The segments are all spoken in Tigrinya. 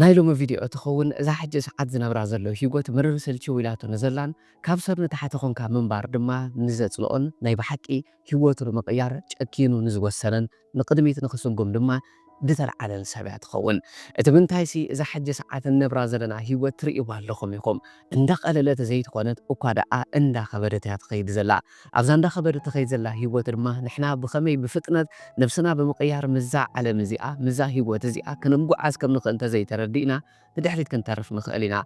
ናይ ሎሚ ቪድዮ ትኸውን እዛ ሕጂ ሰዓት ዝነብራ ዘሎ ሂጎት ምርር ስልችው ኢላቶ ንዘላን ካብ ሰብ ንታሕቲ ኮንካ ምንባር ድማ ንዘጽልኦን ናይ ብሓቂ ሂወቱ ንምቕያር ጨኪኑ ንዝወሰነን ንቕድሚት ንኽስጉም ድማ ድተልዓለን ሰብ እያ ትኸውን እቲ ምንታይሲ እዛ ሕጂ ሰዓት ንነብራ ዘለና ሂወት ትርእይዋ ኣለኹም ኢኹም እንዳቐለለት ዘይትኾነት እኳ ደኣ እንዳኸበደት እያ ትኸይድ ዘላ ኣብዛ እንዳኸበደት ትኸይድ ዘላ ሂወት ድማ ንሕና ብኸመይ ብፍጥነት ነብስና ብምቕያር ምስዛ ዓለም እዚኣ ምስዛ ሂወት እዚኣ ክንጓዓዝ ከም ንኽእል እንተዘይተረዲእና ንድሕሪት ክንተርፍ ንኽእል ኢና።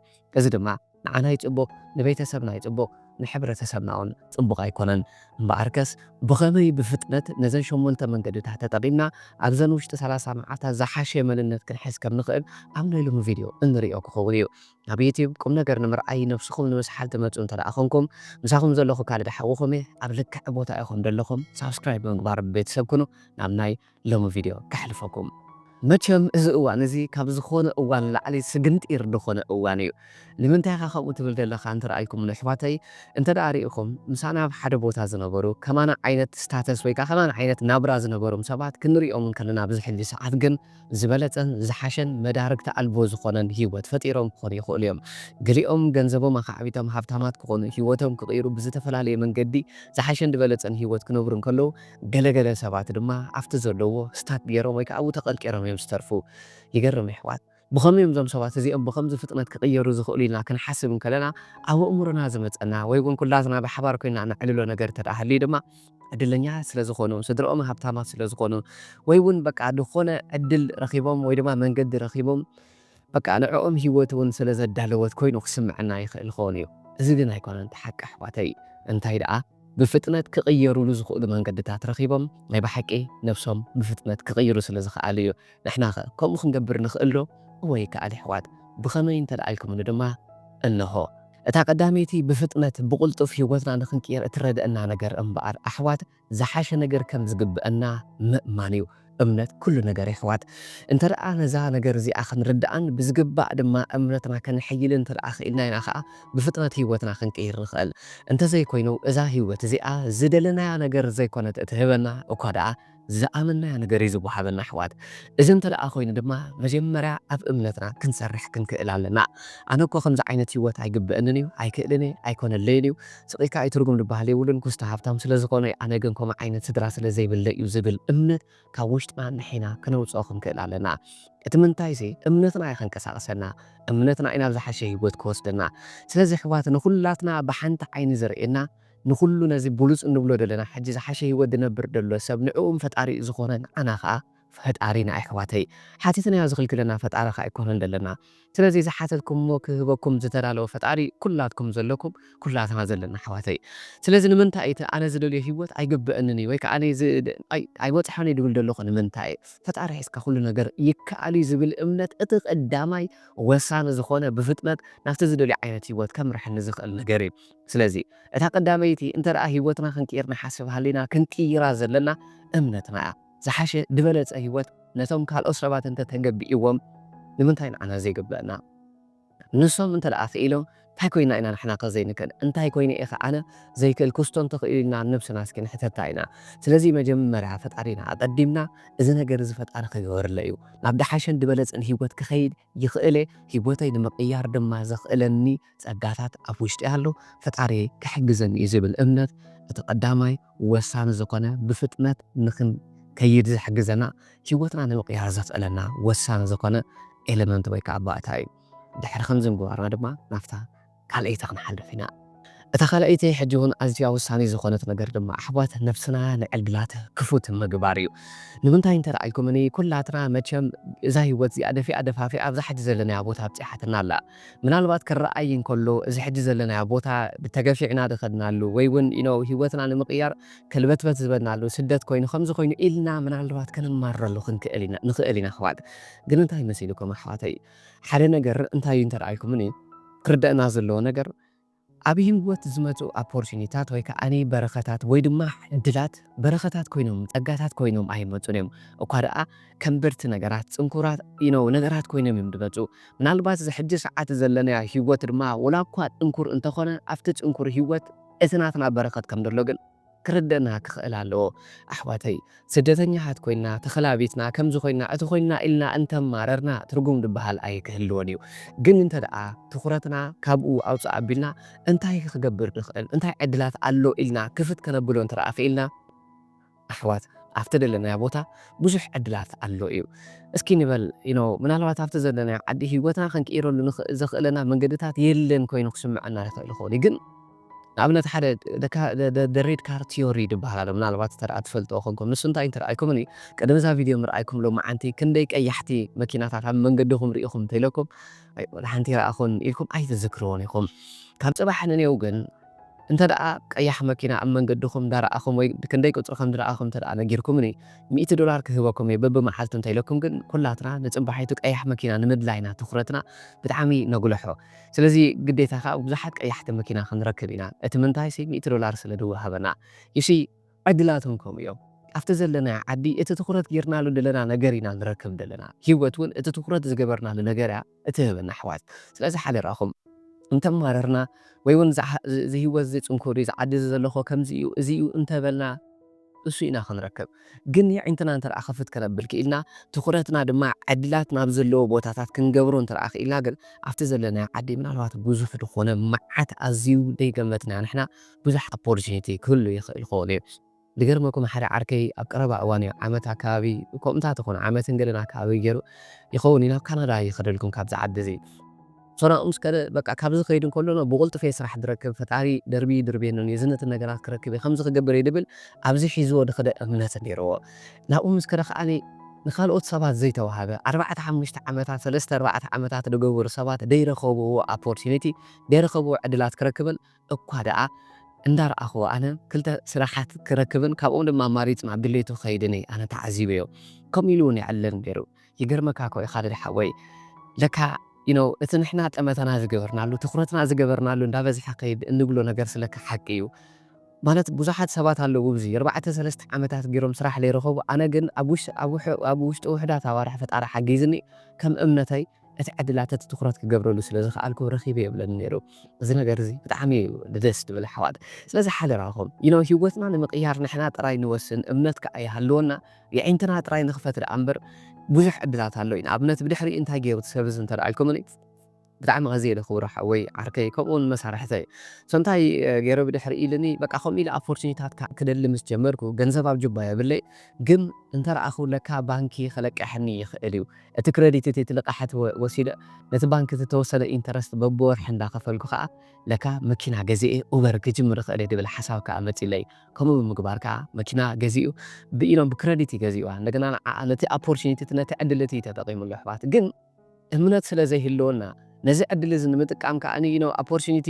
እዚ ድማ ንዓና ኣይጽቡቕ ንቤተሰብና ኣይጽቡቕ ንሕብረተሰብና ውን ጽቡቕ ኣይኮነን። እምበኣርከስ ብኸመይ ብፍጥነት ነዘን ሸሞንተ መንገድታት ተጠቒምና ኣብዘን ውሽጢ ሰላሳ መዓልታት ዝሓሸ መንነት ክንሕዝ ከም ንኽእል ኣብ ናይ ሎሚ ቪድዮ እንርእዮ ክኸውን እዩ። ናብ ዩቱብ ቁምነገር ንምርኣይ ነብስኹም ንምስሓል ትመጹ እንተደኣ ኮንኩም ምሳኹም ዘለኹ ካልድ ሓውኹም እየ ኣብ ልክዕ ቦታ ኢኹም ደለኹም ሳብስክራይብ ብምግባር ቤተሰብ ኩኑ ናብ ናይ ሎሚ ቪድዮ ከሕልፈኩም። መቸም እዚ እዋን እዚ ካብ ዝኾነ እዋን ንላዕሊ ስግንጢር ድኾነ እዋን እዩ ንምንታይ ኢኻ ከምኡ ትብል ደለኻ እንተረኣይኩሙኒ ኣሕዋተይ እንተደኣ ሪኢኹም ምሳና ኣብ ሓደ ቦታ ዝነበሩ ከማና ዓይነት ስታተስ ወይ ከኣ ከማና ዓይነት ናብራ ዝነበሩም ሰባት ክንሪኦም እንከለና ኣብዚ ሕጂ ሰዓት ግን ዝበለጸን ዝሓሸን መዳርግቲ ኣልቦ ዝኾነን ህይወት ፈጢሮም ክኾኑ ይኽእሉ እዮም። ገሊኦም ገንዘቦም ኣኻዕቢቶም ሃብታማት ክኾኑ፣ ህይወቶም ክቕይሩ፣ ብዝተፈላለየ መንገዲ ዝሓሸን ዝበለጸን ህይወት ክነብሩ እንከለዉ፣ ገለ ገለ ሰባት ድማ ኣብቲ ዘለዉዎ ስታክ ገይሮም ወይ ከኣ ኣብኡ ተቐርቂሮም እዮም ዝተርፉ። ይገርም የሕዋት! ብኸመይ እዮም እዞም ሰባት እዚኦም ብኸምዚ ፍጥነት ክቕየሩ ዝኽእሉ ኢልና ክንሓስብ እንከለና ኣብ ኣእምሮና ዝመጸና ወይ እውን ኩላትና ብሓባር ኮይንና እነዕልሎ ነገር እንተድኣ ሃልዩ ድማ፣ ዕድለኛታት ስለ ዝኾኑ፣ ስድርኦም ሃብታማት ስለ ዝኾኑ፣ ወይ ውን በቃ ዝኾነ ዕድል ረኺቦም ወይ ድማ መንገዲ ረኺቦም በቃ ንዕኦም ሂወት ውን ስለ ዘዳለወት ኮይኑ ክስምዐና ይኽእል ይኸውን እዩ። እዚ ግን ኣይኮነን እቲ ሓቂ ኣሕዋተይ እንታይ ደኣ ብፍጥነት ክቕየሩሉ ዝኽእሉ መንገድታት ረኺቦም ናይ ብሓቂ ነብሶም ብፍጥነት ክቕይሩ ስለ ዝኸኣሉ እዩ። ንሕናኸ ከምኡ ክንገብር ንኽእል ዶ? እወ ይከኣል የሕዋት ብኸመይ እንተደኣ ኢልኩምኒ ድማ እነሆ። እታ ቀዳመይቲ ብፍጥነት ብቕልጡፍ ህይወትና ንኽንቅይር እትረድእና ነገር እምበኣር ኣሕዋት ዝሓሸ ነገር ከም ዝግበእና ምእማን እዩ። እምነት ኩሉ ነገር የሕዋት። እንተደኣ ነዛ ነገር እዚኣ ክንርድኣን ብዝግባእ ድማ እምነትና ከነሐይልን እንተደኣ ክኢልና ኢና ከኣ ብፍጥነት ህይወትና ክንቅይር ንኽእል። እንተዘይኮይኑ እዛ ህይወት እዚኣ ዝደለናያ ነገር ዘይኮነት እትህበና እኳ ደኣ ዝኣመንናዮ ነገር እዩ ዝወሃበና ኣሕዋት እዚ እንተ ደኣ ኮይኑ ድማ መጀመርያ ኣብ እምነትና ክንሰርሕ ክንክእል ኣለና ኣነ እኮ ከምዚ ዓይነት ሂወት ኣይግበእንን እዩ ኣይክእልን እየ ኣይኮነለይን እዩ ስቂካ ኣይትርጉም ድበሃል የብሉን ኩስቶ ሃብታም ስለ ዝኮነ ኣነ ግን ኮምኡ ዓይነት ስድራ ስለ ዘይብለይ እዩ ዝብል እምነት ካብ ውሽጥና ንሒና ክነውጽኦ ክንክእል ኣለና እቲ ምንታይሲ እምነትና እዩ ከንቀሳቅሰና እምነትና እዩ ናብ ዝሓሸ ሂወት ክወስደና ስለዚ ኣሕዋት ንኩላትና ብሓንቲ ዓይኒ ዝርእየና ንኹሉ ነዚ ብሉጽ እንብሎ ደለና ሕጂ ዝሓሸ ሂወት ድነብር ደሎ ሰብ ንዕኡም ፈጣሪኡ ዝኾነ ንዓና ከኣ ፈጣሪና ኣሕዋተይ ሓቲትናዮ ዝኽልክለና ፈጣሪ ከኣ ኣይኮነን ደለና ስለዚ ዝሓተትኩምዎ ክህበኩም ዝተዳለወ ፈጣሪ ኩላትኩም ዘለኩም ኩላትና ዘለና ኣሕዋተይ ስለዚ ንምንታይ እቲ ኣነ ዝደልዮ ሂወት ኣይግበእንን እዩ ወይ ከኣ ኣይበጽሖን እየ ድብል ደለኹ ንምንታይ እዩ ፈጣሪ ሒዝካ ኩሉ ነገር ይከኣል እዩ ዝብል እምነት እቲ ቀዳማይ ወሳኒ ዝኾነ ብፍጥነት ናብቲ ዝደልዮ ዓይነት ሂወት ከምርሐኒ ዝኽእል ነገር እዩ ስለዚ እታ ቀዳመይቲ እንተደኣ ህይወትና ክንቅይር ንሓስብ ሃሊና ክንቅይራ ዘለና እምነትና እያ። ዝሓሸ ድበለጸ ህይወት ነቶም ካልኦት ሰባት እንተ ተገቢእዎም ንምንታይ ንዓና ዘይግበእና? ንሶም እንተደኣ ክኢሎም ታይ ኮይና ኢና ንሕናከ ዘይንክእል? እንታይ ኮይነ ኢኸ ኣነ ዘይክእል ክስቶ እንተኽኢሉ ኢልና ንነብስና እስኪ ንሕተታ ኢና። ስለዚ መጀመርያ ፈጣሪና ኣቀዲምና እዚ ነገር እዚ ፈጣሪ ክገበርለይ እዩ ናብ ድሓሸን ድበለጸን ህይወት ክኸይድ ይኽእል'የ፣ ህይወተይ ንምቕያር ድማ ዘኽእለኒ ጸጋታት ኣብ ውሽጢ ኣሎ፣ ፈጣሪየይ ክሕግዘኒ'ዩ ዝብል እምነት እቲ ቀዳማይ ወሳኒ ዝኾነ ብፍጥነት ንኽንከይድ ዝሕግዘና ህይወትና ንምቕያር ዘኽእለና ወሳኒ ዝኾነ ኤለመንት ወይ ከኣ ባእታ'ዩ። ድሕሪ ከምዚ ምግባርና ድማ ናብታ ካልኣይቲ ክንሓልፍ ኢና። እታ ካልኣይቲ ሕጂ እውን ኣዝያ ወሳኒት ዝኾነት ነገር ድማ ኣሕዋት ነፍስና ንዕድላት ክፉት ምግባር እዩ። ንምንታይ እንተ ርኣልኩምኒ ኩላትና መቸም እዛ ህይወት እዚኣ ደፊኣ ደፋፊኣ ኣብዛ ሕጂ ዘለናያ ቦታ ኣብጺሓትና ኣላ። ምናልባት ክርኣይ እንከሎ እዚ ሕጂ ዘለናዮ ቦታ ተገፊዕና ዝኸድናሉ ወይ እውን you know ህይወትና ንምቕያር ከልበትበት ዝበልናሉ ስደት ኮይኑ ከምዚ ኮይኑ ኢልና ምናልባት ከነማርረሉ ክንክእል ንኽእል ኢና ኣሕዋት ግን እንታይ መሲልኩም ኣሕዋተይ ሓደ ነገር እንታይ እንተ ኢልኩምኒ ክርደእና ዘለዎ ነገር ኣብ ሂወት ዝመጹ ኣፖርቲኒታት ወይ ከኣ በረከታት ወይ ድማ ዕድላት በረከታት ኮይኖም ጸጋታት ኮይኖም ኣይመጹን እዮም እኳ ደኣ ከንበድቲ ነገራት ጽንኩራት you know ነገራት ኮይኖም እዮም ድመጹ ምናልባት እዚ ሕጂ ሰዓት ዘለናዮ ሂወት ድማ ወላ እኳ ጽንኩር እንተኮነ ኣብቲ ጽንኩር ሂወት እቲ ናትና በረከት ከም ደሎ ግን ክርደእና ክኽእል ኣለዎ ኣሕዋተይ ስደተኛታት ኮይና ተኸላቢትና ከምዚ ኮይና እቲ ኮይና ኢልና እንተማረርና ትርጉም ድባሃል ኣይክህልዎን እዩ ግን እንተደኣ ትኹረትና ካብኡ ኣውጽእ ኣቢልና እንታይ ክገብር ንኽእል እንታይ ዕድላት ኣሎ ኢልና ክፍት ከነብሎ እንተደኣ ክኢልና ኣሕዋት ኣብቲ ደለናዮ ቦታ ብዙሕ ዕድላት ኣሎ እዩ እስኪ ንበል ዩኖ ምናልባት ኣብቲ ዘለናዮ ዓዲ ሂወትና ክንቅይረሉ ንኽእል ዘኽእለና መንገድታት የለን ኮይኑ ክስምዐና ይኽእል ይኸውን እዩ ግን ንኣብነት ሓደ ደካ-ደ-ደ-ደ-ሬድ ካር ቲዮሪ ድበሃል ኣሎ ምናልባት እንተደኣ ትፈልጥዎ ኮንኩም ንሱ እንታይ እንተረኣይኩምኒ ቅድሚ እዛ ቪድዮ ምርኣይኩም ሎማዓንቲ ክንደይ ቀያሕቲ መኪናታት ኣብ መንገድኹም ሪኢኹም እንተኢለኩም ኣይ ወላሓንቲ ረኣኹን ኢልኩም ኣይትዝክርዎን ኢኹም ካብ ጽባሕ ንኔው ግን እንተደኣ ቀያሕ መኪና ኣብ መንገድኹም እንዳረኣኹም ወይ ክንደይ ቁጽሪ ከምድረኣኹም እንተደኣ ነጊርኩምኒ ሚእቲ ዶላር ክህበኩም እየ በብመዓልቱ እንተኢለኩም ግን ኩላትና ንጽባሒቱ ቀያሕ መኪና ንምድላይ ኢና ትኹረትና ብጣዕሚ ነጉልሖ ስለዚ ግዴታ ከኣ ብዙሓት ቀያሕቲ መኪና ክንረክብ ኢና እቲ ምንታይሲ ሚእቲ ዶላር ስለ ድወሃበና you see ዕድላቶም ከምኡ እዮም ኣብቲ ዘለናዮ ዓዲ እቲ ትኹረት ጌርናሉ ደለና ነገር ኢና ንረክብ ደለና ሂወት ውን እቲ ትኹረት ዝገበርናሉ ነገር እያ እትህበና ኣሕዋት ስለዚ ሓደራኹም እንተማረርና ወይ ውን እዚ ሂወት እዚ ጽንኩር እዩ እዚ ዓዲ እዚ ዘለኾ ከምዚ እዩ እዚ እዩ እንተበልና እሱ ኢና ክንረክብ ግን የዒንትና እንተ ክፍት ከነብል ክኢልና ትኹረትና ድማ ዕድላት ናብ ዘለዎ ቦታታት ክንገብሮ እንተ ክኢልና ግን ኣብቲ ዘለናዮ ዓዲ ምናልባት ብዙሕ ዝኾነ መዓት ኣዝዩ ደይገመትናዮ ንሕና ብዙሕ ኣፖርችኒቲ ክህሉ ይኽእል ይኸውን እዩ ድገርመኩም ሓደ ዓርከይ ኣብ ቀረባ እዋን እዩ ዓመት ኣከባቢ ኮምታት ይኹን ዓመትን ገለን ኣከባቢ ገይሩ ይኸውን እዩ ናብ ካናዳ ይኸደልኩም ካብዚ ዓዲ እዚ ሰናኡ ምስ ከደ በቃ ካብዚ ክከይድ እንከሎ ነው ብቁልጡፍ እየ ስራሕ ድረክብ ፈጣሪ ደርቢዩ ድርብየኒ እኔ ዝነትን ነገራት ክረክብ እየ ከምዚ ክገብር እየ ድብል ኣብዚ ሒዝዎ ድክደ እምነት ነይርዎ ናብኡ ምስ ከደ ከኣ ንካልኦት ሰባት ዘይተዋህበ ኣርባዕተ ሓሙሽተ ዓመታት ሰለስተ ኣርባዕተ ዓመታት ድገበሩ ሰባት ደይረከብዎ ኣፖርቲኒቲ ደይረከብዎ ዕድላት ክረክብን እኳ ደኣ እንዳረኣክዎ ኣነ ክልተ ስራሓት ክረክብን ካብኦም ድማ ኣማሪጽ ናብ ድሌቱ ክከይድን እየ ኣነ ተዓዚበዮ ከምኡ ኢሉ ውን ይዕልል ነይሩ ይገርመካ እኮ እዩ ኻልድ ሓወይ ለካ you know እቲ ንሕና ጠመተና ዝገበርናሉ ትኹረትና ዝገበርናሉ እንዳበዝሐ ኸይድ እንብሎ ነገርስ ለካ ሓቂ እዩ ማለት ብዙሓት ሰባት ኣለዉ እብዚ ኣርባዕተ ሰለስተ ዓመታት ጌሮም ስራሕ ለይረኸቡ ኣነ ግን ኣብ ውሽጢ ኣብ ውሕ ኣብ ውሽጢ ውሕዳት ኣዋርሕ ፈጣሪ ሓጊዝኒ ከም እምነተይ እቲ ዕድላት እቲ ትኹረት ክገብረሉ ስለ ዝኸኣልኩ ረኺበ የብለኒ ነይሩ እዚ ነገር እዚ ብጣዕሚ እዩ ደስ ድብል ኣሕዋት ስለዚ ሓደራኹም you know ሂወትና ንምቕያር ንሕና ጥራይ ንወስን እምነት ከኣ ይሃልወና የዒንትና ጥራይ ንኽፈት ደኣ እምበር ብዙሕ ዕድላት ኣሎ ንኣብነት ብድሕሪኡ እንታይ ጌሩ እቲ ሰብ እዚ እንተ ኢልኩምኒ ብጣዕሚ ኣዝየለ ክቡር ሓወይ ዓርከይ ከምኡ ውን መሳርሕተይ so እንታይ ጌረ ብድሕሪኡ ኢሉኒ በቃ ከምኡ ኢለ ኣፖርቲኒታት ክደሊ ምስ ጀመርኩ ገንዘብ ኣብ ጁባ የብለይ ግን እንተ ረኣኹ ለካ ባንኪ ክለቅሐኒ ይኽእል እዩ እቲ ክረዲት እቲ እቲ ልቓሕት ወሲደ ነቲ ባንኪ እቲ ተወሰነ ኢንተረስት በብወርሒ እንዳ ከፈልኩ ከኣ ለካ መኪና ገዚኤ ኡበር ክጅምር እኽእል እየ ድብል ሓሳብ ከኣ መጺኡለይ ከምኡ ብምግባር ከኣ መኪና ገዚኡ ብኢኖም ብክረዲት እዩ ገዚእዋ እንደገና ንዓኣ ነቲ ኣፖርቹኒቲ እቲ ነቲ ዕድል እቲ እዩ ተጠቂምሉ ኣሕዋት ግን እምነት ስለ ዘይህልወና ነዚ ዕድል እዚ ንምጥቃም ከኣ ዩ ኖው ኣፖርቹኒቲ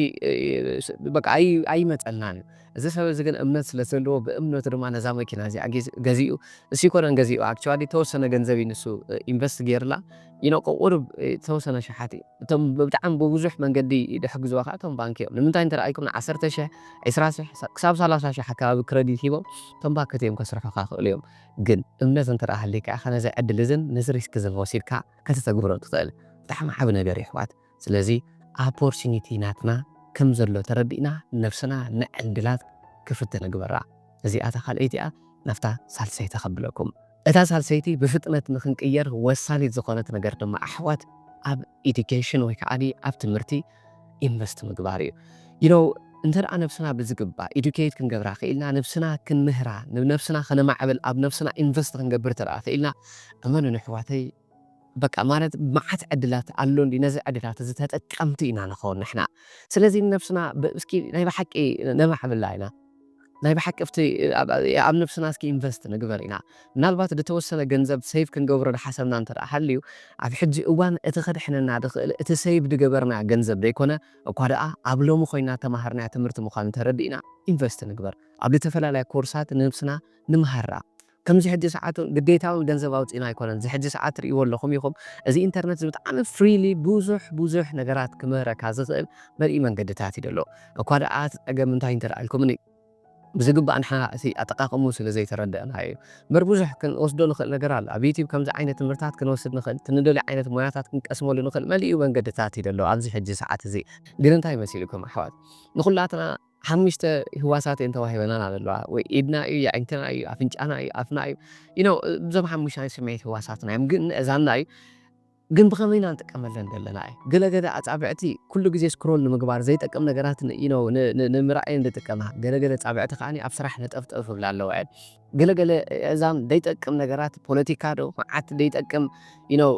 በቃ ኣይመጸልናን እዩ እዚ ሰብ እዚ ግን እምነት ስለ ዘለዎ ብእምነቱ ድማ ነዛ መኪና እዚኣ ገዚኡ ንሱ ኣይኮነን ገዚእዋ ኣክቸዋሊ ተወሰነ ገንዘብ እዩ ንሱ ኢንቨስት ጌርላ ኢኖ ቁቁሩብ ዝተወሰነ ኣሽሓት እዩ እቶም ብጣዕሚ ብብዙሕ መንገዲ ድሕግዝዋ ከኣ እቶም ባንኪ እዮም ንምንታይ እንተረኣይኩም ንዓሰርተ ሽሕ ዕስራ ሽሕ ክሳብ ሳላሳ ሽሕ ኣከባቢ ክረዲት ሂቦም እቶም ባክት እዮም ከስርሑካ ይክእሉ እዮም ግን እምነት እንተ ሃልይካ ኢካ ነዚ ዕድል እዝን ነዚ ሪስክ እዝን ወሲድካ ከተተግብሮ ትክእል ብጣዕሚ ዓቢ ነገር እዩ ኣሕዋት። ስለዚ ኣፖርችኒቲ ናትና ከም ዘሎ ተረዲእና ነብስና ንዕድላት ክፍት ንግበራ። እዚኣ እታ ካልኣይቲ እያ ናብታ ሳልሰይቲ ከብለኩም። እታ ሳልሰይቲ ብፍጥነት ንክንቅየር ወሳኒት ዝኾነት ነገር ድማ ኣሕዋት ኣብ ኢዱኬሽን ወይ ከኣ ኣብ ትምህርቲ ኢንቨስት ምግባር እዩ። ዩ ኖው እንተ ነብስና ብዝግባእ ኢዱኬት ክንገብራ ክኢልና ነብስና ክንምህራ ንነብስና ከነማዕብል ኣብ ነብስና ኢንቨስት ክንገብር እንተ ክኢልና እመኑኒ ኣሕዋተይ በቃ ማለት መዓት ዕድላት ኣሎ እንድዩ ነዚ ዕድላት እዚ ተጠቀምቲ ኢና ንከውን ንሕና ስለዚ ንነብስና እስኪ ናይ በሓቂ ነማዕብላ ኢና ናይ በሓቂ ኣብቲ ኣብ ነብስና እስኪ ኢንቨስት ንግበር ኢና ምናልባት ድተወሰነ ገንዘብ ሰይቭ ክንገብሮ ድሓሰብና እንተ ሃልዩ ኣብ ሕጂ እዋን እቲ ከድሕነና ድክእል እቲ ሰይቭ ድገበርናዮ ገንዘብ ደይኮነ እኳ ደኣ ኣብ ሎሚ ኮይና እተማሃርናዮ ትምህርቲ ምኳኑ ተረዲእና ኢንቨስት ንግበር ኣብ ልተፈላለያ ኮርሳት ንነብስና ንምሃራ ከምዚ ሕጂ ሰዓቱ ግዴታዊ ገንዘብ ኣውጺእና ኣይኮነን እዚ ሕጂ ሰዓት ትርእይዎ ኣለኹም ኢኹም እዚ ኢንተርነት እዚ ብጣዕሚ ፍሪሊ ብዙሕ ብዙሕ ነገራት ክምህረካ ዝኽእል መሊኡ መንገድታት እዩ ደሎ እኳ ደኣ እቲ ጸገም እንታይ እንተ ኣልኩምኒ ብዝግባእ ንሕና እቲ ኣጠቃቅምኡ ስለ ዘይተረደእናዮ እዩ እምበር ብዙሕ ክንወስዶ ንኽእል ነገር ኣሎ ኣብ ዩቱብ ከምዚ ዓይነት ትምህርታት ክንወስድ ንኽእል እቲ ንደልዮ ዓይነት ሞያታት ክንቀስመሉ ንኽእል መሊኡ መንገድታት እዩ ደሎ ኣብዚ ሕጂ ሰዓት እዚ ግን እንታይ መሲልኩም ኣሕዋት ንኹላትና ሓሙሽተ ህዋሳት እየን ተዋሂበናና ዘለዋ ወይ ኢድና እዩ የዒንትና እዩ ኣፍንጫና እዩ ኣፍና እዩ you know እዞም ሓሙሽተ ናይ ስምዒት ህዋሳትና እዮም ግን እዛና እዩ ግን ብኸመይ ኢና ንጥቀመለን ዘለና እዩ ገለ ገለ ኣጻብዕቲ ኩሉ ግዜ ስክሮል ንምግባር ዘይጠቅም ነገራት you know ንምርኣይ እየን ዝጥቀማ ገለ ገለ ኣጻብዕቲ ከኣ ኣብ ስራሕ ነጠፍጠፍ ይብላ ኣለዋ እየን ገለ ገለ እዛም ደይጠቅም ነገራት ፖለቲካ ዶ መዓት ደይጠቅም you know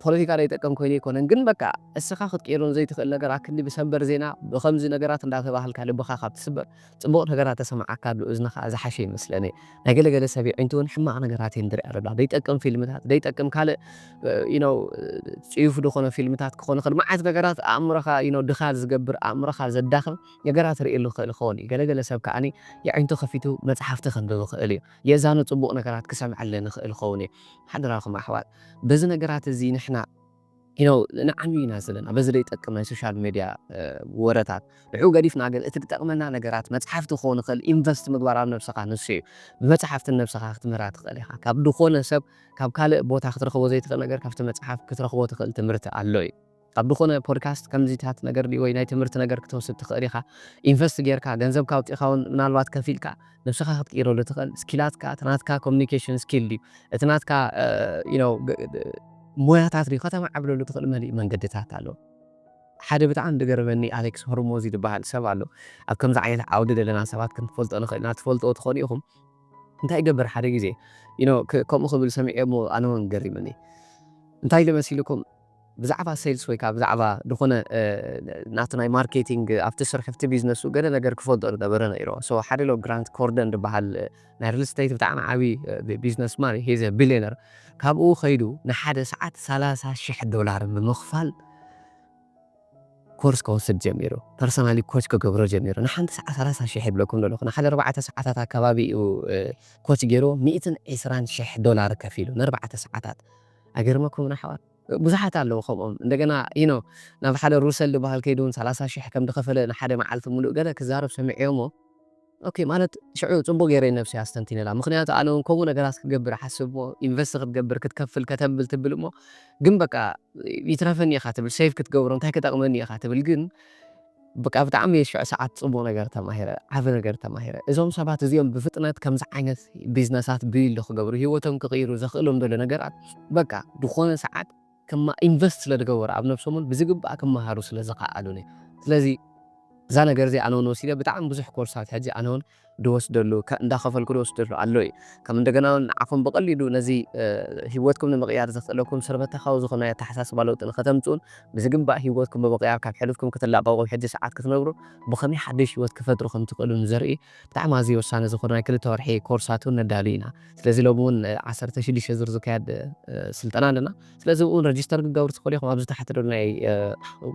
ፖለቲካ ደይጠቅም ኮይኑ ኣይኮነን ግን በቃ እስኻ ክትቅይሮ ዘይትኽእል ነገር ኣክንዲ ብሰበር ዜና ብኸምዚ ነገራት እንዳተባሃልካ ልብኻ ካብ ትስበር ጽቡቕ ነገራት ተሰምዓካ ልኡዝንኻ ዝሓሸ ይመስለኒ ናይ ገለ ገለ ሰብ የዒንቱ ውን ሕማቕ ነገራት እየን ድርኣ ለላ ደይጠቅም ፊልምታት ደይጠቅም ካልእ you know ጽዩፍ ድኾነ ፊልምታት ክኾን ይኽእል መዓት ነገራት ኣእምሮኻ you know ድኻል ዝገብር ኣእምሮኻ ዘዳኽም ነገራት ርእየሉ ይኽእል ይኸውን እዩ። ገለ ገለ ሰብ ከኣ የዒንቱ ከፊቱ መጽሓፍቲ ከንብብ ይኽእል እዩ። የእዛኑ ጽቡቕ ነገራት ክሰምዐለን ይኽእል ይኸውን እዩ። ሓደራኹም ኣሕዋት በዚ ነገራት እዚ ንሕና። You know ንዓንዊ ኢና ዘለና በዚ ዘይጠቅም ናይ ሶሻል ሜድያ ወረታት። ንዕኡ ገዲፍና ግን እቲ ክጠቕመና ነገራት መጽሓፍቲ ክኸውን ይኽእል ኢንቨስት ምግባር ኣብ ነብስኻ ንሱ እዩ። ብመጽሓፍቲ ንነብስኻ ክትምህራ ትኽእል ኢኻ። ካብ ድኾነ ሰብ ካብ ካልእ ቦታ ክትረኽቦ ዘይትኽእል ነገር ካብቲ መጽሓፍ ክትረኽቦ ትኽእል ትምህርቲ ኣሎ እዩ። ኣብ ድኾነ ፖድካስት ከምዚታት ነገር ድዩ ወይ ናይ ትምህርቲ ነገር ክትወስድ ትኽእል ኢኻ ኢንቨስት ጌርካ ገንዘብካ ኣውጺእኻ ውን ምናልባት ከፊልካ ንብስኻ ክትቅይረሉ ትኽእል ስኪላትካ እቲ ናትካ ኮሙኒኬሽን ስኪል ድዩ እቲ ናትካ ዩ ኖው ሞያታት ድዩ ከተማዕብለሉ ትኽእል መሊኡ መንገድታት ኣሎ ሓደ ብጣዕሚ ድገረመኒ ኣሌክስ ሆርሞዚ ድበሃል ሰብ ኣሎ ኣብ ከምዚ ዓይነት ዓውዲ ደለና ሰባት ክንፈልጦ ንኽእል ኢና ትፈልጥዎ ትኾኑ ኢኹም እንታይ ይገብር ሓደ ግዜ ዩ ኖው ከምኡ ክብል ሰሚዔ እሞ ኣነ ውን ገሪምኒ እንታይ ኢሉ መሲልኩም ብዛዕባ ሴልስ ወይ ከኣ ብዛዕባ ድኾነ ናቲ ናይ ማርኬቲንግ ኣብቲ ስርሑ ኣብቲ ቢዝነሱ ገለ ነገር ክፈልጦ ዝነበረ ነይሩ። So ሓደ ሎ ግራንት ኮርደን ዝብሃል ናይ ሪል ስተይት ብጣዕሚ ዓቢ ቢዝነስ ማን እዩ He is a billionaire ካብኡ ከይዱ ንሓደ ሰዓት ሰላሳ ሽሕ ዶላር ብምኽፋል ኮርስ ከወስድ ጀሚሩ። ፐርሰናሊ ኮች ክገብሮ ጀሚሩ። ንሓንቲ ሰዓት ሰላሳ ሽሕ ይብለኩም ዘለኹ ንሓደ ኣርባዕተ ሰዓታት ኣካባቢ እዩ ኮች ጌርዎ ሚእትን ዕስራን ሽሕ ዶላር ከፊሉ ንኣርባዕተ ሰዓታት። ኣይገርመኩምን ኣሕዋት ብዙሓት ኣለዉ ከምኦም እንደገና you know ናብ ሓደ ሩሰል ድበሃል ከይዱ ውን ሰላሳ ሽሕ ከም ድከፈለ ንሓደ መዓልቲ ሙሉእ ገለ ክዛረብ ሰሚዔዮሞ ኦኬ ማለት ሽዑ ጽቡቅ ጌረ ንነብሰይ ኣስተንቲነላ ምክንያቱ ኣነ ውን ከምኡ ነገራት ክትገብር እሓስብ እሞ ኢንቨስት ክትገብር ክትከፍል ከተብል ትብል እሞ ግን በቃ ይትረፈኒ ኢካ ትብል ሴቭ ክትገብሮ እንታይ ክጠቅመኒ ኢካ ትብል ግን በቃ ብጣዕሚ ሽዑ ሰዓት ጽቡቅ ነገር ተማሂረ ዓቢ ነገር ተማሂረ እዞም ሰባት እዚኦም ብፍጥነት ከምዚ ዓይነት ቢዝነሳት ቢልድ ክገብሩ ሂወቶም ክቅይሩ ዘክእሎም ዘሎ ነገራት በቃ ድኮነ ሰዓት ክማ ኢንቨስት ስለ ድገበሩ ኣብ ነብሶምን ብዝግባእ ክማሃሩ ስለ ዝካኣሉን እዩ ስለዚ እዛ ነገር እዚ ኣነ ውን ወሲደ ብጣዕሚ ብዙሕ ኮርሳት ሕጂ ኣነ ውን ድወስደሉ እንዳኸፈልኩ ድወስደሉ ኣሎ እዩ። ከም እንደገና ውን ንዓኹም ብቐሊሉ ነዚ ሂወትኩም ንምቕያር ዘኽእለኩም ስርበታካዊ ዝኾነ ናይ ኣተሓሳስባ ለውጢ ንኸተምጽኡን ብዝግባእ ሂወትኩም ብምቕያር ካብ ሕሉፍኩም ክትላቐቑ ኣብ ሕጂ ሰዓት ክትነብሩ ብኸመይ ሓድሽ ሂወት ክፈጥሩ ከም ትኽእሉ ንዘርኢ ብጣዕሚ ኣዝዩ ወሳኒ ዝኾነ ናይ ክልተ ወርሒ ኮርሳት ውን ነዳሉ ኢና። ስለዚ ሎሚ ውን ዓሰርተ ሽዱሽተ ዙር ዝካየድ ስልጠና ኣለና። ስለዚ እውን ረጅስተር ክትገብሩ ትኽእሉ ኢኹም። ኣብዚ ታሕቲ ዘሎ ናይ